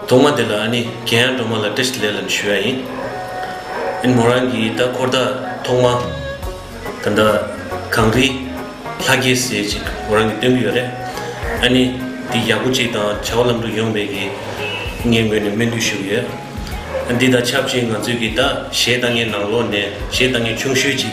གདོང་མ་དེ་ལ་ཨ་ནི་གན་ཡག་འགྲོ་མ་ལ་ཏེས་ལེ་ལན་ཞུ་ཡ་ཡིན་ཨིན་མོ་རང་གིས་ད་འཁོར་ད་ཐོག་མ་ད་འདྲ་གངས་རི་ལྷ་རྒྱལ་ཟེར་ཅིག་མོ་རང་གིས་སྟོན་གི་ཡོད་རེད་ཨ་ནི་འདི་ཡག་པོ་ཅིག་དང་བྱ་བ་ལམ་འགྲོ་ཡོང་བའི་གི་ངས་ངོས་ནས་སྨོན་འདུས་ཞུ་གི་ཡོད་འདི་དང་ཆབས་ཅིག་ང་ཚོས་གི་ད་གཞས་ལྟ་ངན་ནང་ལོག་ནས་གཞས་ལྟ་ངན་ཆུང་ཤོས་ཅིག་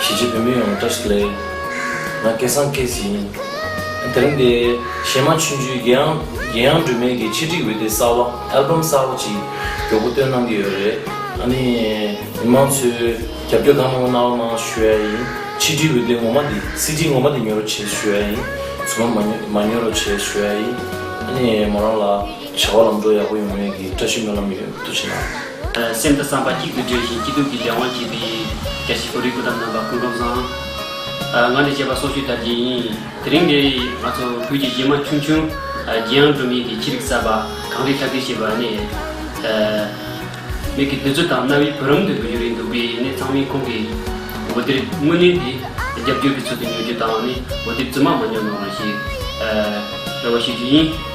གཞིས་བྱེས་བོད་མི་ཡོངས་བཀྲ་ཤིས་ལེགས། ང་སྐལ་བཟང་སྐལ་བཟི་ཡིན། དེ་རིང་འདི། གཞས་མ་ཆུན་ཆུན་རྒྱལ་ཡང། རྒྱལ་ཡང་སྒྲོལ་མས་ཀྱི་ཆེད་སྒྲིག་འོད་སྡེར་གསར་བ། Album། གསར་བ་ཅིག་མགྱོགས་པོ་བཏོན་གནང་གི་ཡོད་རེད། ཨ་ནི། མི་མང་ཚོས། རྒྱབ་སྐྱོར་གང་མང་པོ་གནང་བ་གནང་ཞུ་ཡ་ཡིན། ཆིག་སྒྲིལ་འོད་སྡེར་ངོ་མ་འདི། CD། ངོ་མ་འདི་ཉོ་རོ་བྱེད་ཞུ་ཡ་ཡིན། ཚུར་མ། མ་ཉོ་རོ་བྱེད་ཞུ་ཡ་ཡིན། ཨ་ནི། མོ་རང་ལ། བྱ་བ་ལམ་འགྲོ་ཡག་པོ་ཡོང་མེད་ཀྱི་བཀྲ་ཤིས་སྨོན་ལམ་ཡོད། ཏུ་ཆེ་ན། སེམས་དང་བསམ་པ་གཅིག་ཏུ་སྒྲིལ་ཞིང་སྐྱིད་སྡུག་གི་ལས་དབང་བྱེད་པའི། བཀྲ་ཤིས་གོ་རིག་སྐུ་དམ་རྣམ་པ་ཀུན་སྒོམ་བཟང། ང་ནི་བཅས་པ་སྲོག་གཅོད་དར་རྒྱས་ཡིན། དེ་རིང་འདིར་ང་ཚོ་བོད་ཀྱི་གཞས་མ་ཆུང་ཆུང། རྒྱལ་ཡང་འགྲོ་མིན་གྱི་ཕྱི་རིགས་གསར་པ། གངས་རིའི་ལྷ་སྐལ་ཞེས་པ་ནི། མིག་གི་བདུད་རྩི་དང་རྣ་བའི་བུ་རམ་དུ་གྱུར་ཡོད་འདུག་པས་ནི་ཚང་མས་ཁོང་གི། འོད་སྡེར་དངོས་གནས་འདི། རྒྱབ་སྐྱོར་གྱི་ཚུལ་དུ་ཉོ་རྒྱུ་དང་ནི་འོད་སྡེར་རྫུན་མ་མ་ཉོ་གནང་རོགས་ཞེས། རེ་བ་ཞུ་རྒྱུ་ཡིན།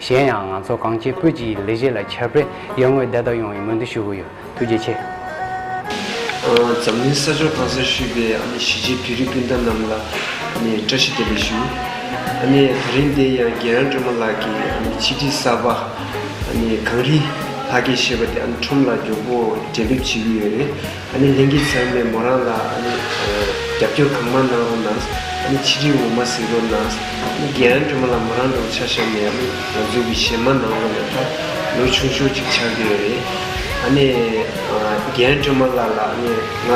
གཞན་ཡང་ང་ཚོ་གངས་སྐྱིད་སྤོས་ཀྱི་ལས་གཞི་ལ་ཁྱབ་སྤེལ་ཡར་ངོའི་བདེ་ཐབས་ཡོང་བའི་སྨོན་འདུན་ཞུ་གི་ཡོད་ཐུགས་རྗེ་ཆེ། འཛམ་གླིང་ས་ཕྱོགས་གང་སར་བཞུགས་པའི་ཨ་ནེ་ཞི་བྱེས་བོད་རིགས་སྤུན་ཟླ་རྣམས་ལ་བཀྲ་ཤིས་བདེ་ལེགས་ཞུ། ཨ་ནེ་ད་རིང་འདས་ཡང་རྒན་རང་སྒྲོལ་མ་ལགས་ཀྱི་ཆིག་སྒྲིལ་གསར་པ་གངས་རི་ལྷ་སྐལ་ཞེས་པ་དེ་ཁྲོམ་ལ་མགྱོགས་པོ་འབྲེལ་འདེབས་བྱེད་ཀྱི་ཡོད་རེད། ཨ་ནི་ལིང་གིས་ཚང་མས་མོ་རང་ལ་ཨ་ནི་རྒྱབ་སྐྱོར་གང་མང་གནང་རུང་ནའང་ཨ་ནི་ཆིག་སྒྲིལ་ངོ་མ་གཟིགས་རུང་ནའང་ཨ་ནི་རྒན་རོན་དྲོན་མོ་ལ་མོ་རང་འགྲོགས་འཆར་བཞག་ནས་ཨ་ནི་ང་ཚོའི་གི་ཞེ་མ་གནང་རུང་ཡང་ད་ལོ་ཆུང་ཤོས་ཅིག་ཆགས་ཀྱི་ཡོད་རེད། ཨ་ནི་རྒན་རོན་དྲོན་མོ་ལ་ལ་ཨ་ནི་ང་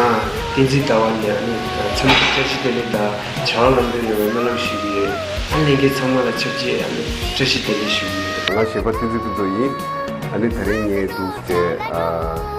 བསྟན་འཛིན་ཟླ་བ་ནས་ཨ་ནི་འཚམས་འདྲི་བཀྲ་ཤིས་བདེ་ལེགས་དང་བྱ་བ་ལམ་འགྲོ་ཡོང་བའི་སྨོན་ལམ་ཞུ་གི་ཡོད། ཨ་ནི་ལིང་གིས་ཚང་མ་ལ་ཆབས་ཅིག་ཨ་ནི་བཀྲ་ཤིས་བདེ་ལེགས་ཞུ་གི་ཡོད། ང་གཞས་པ་བསྟན་འཛིན་ཕུན་ཚོགས་ཡིན། ཨ་ནི་ད་རིང་ངའི་སྡུག་སྐྲའི།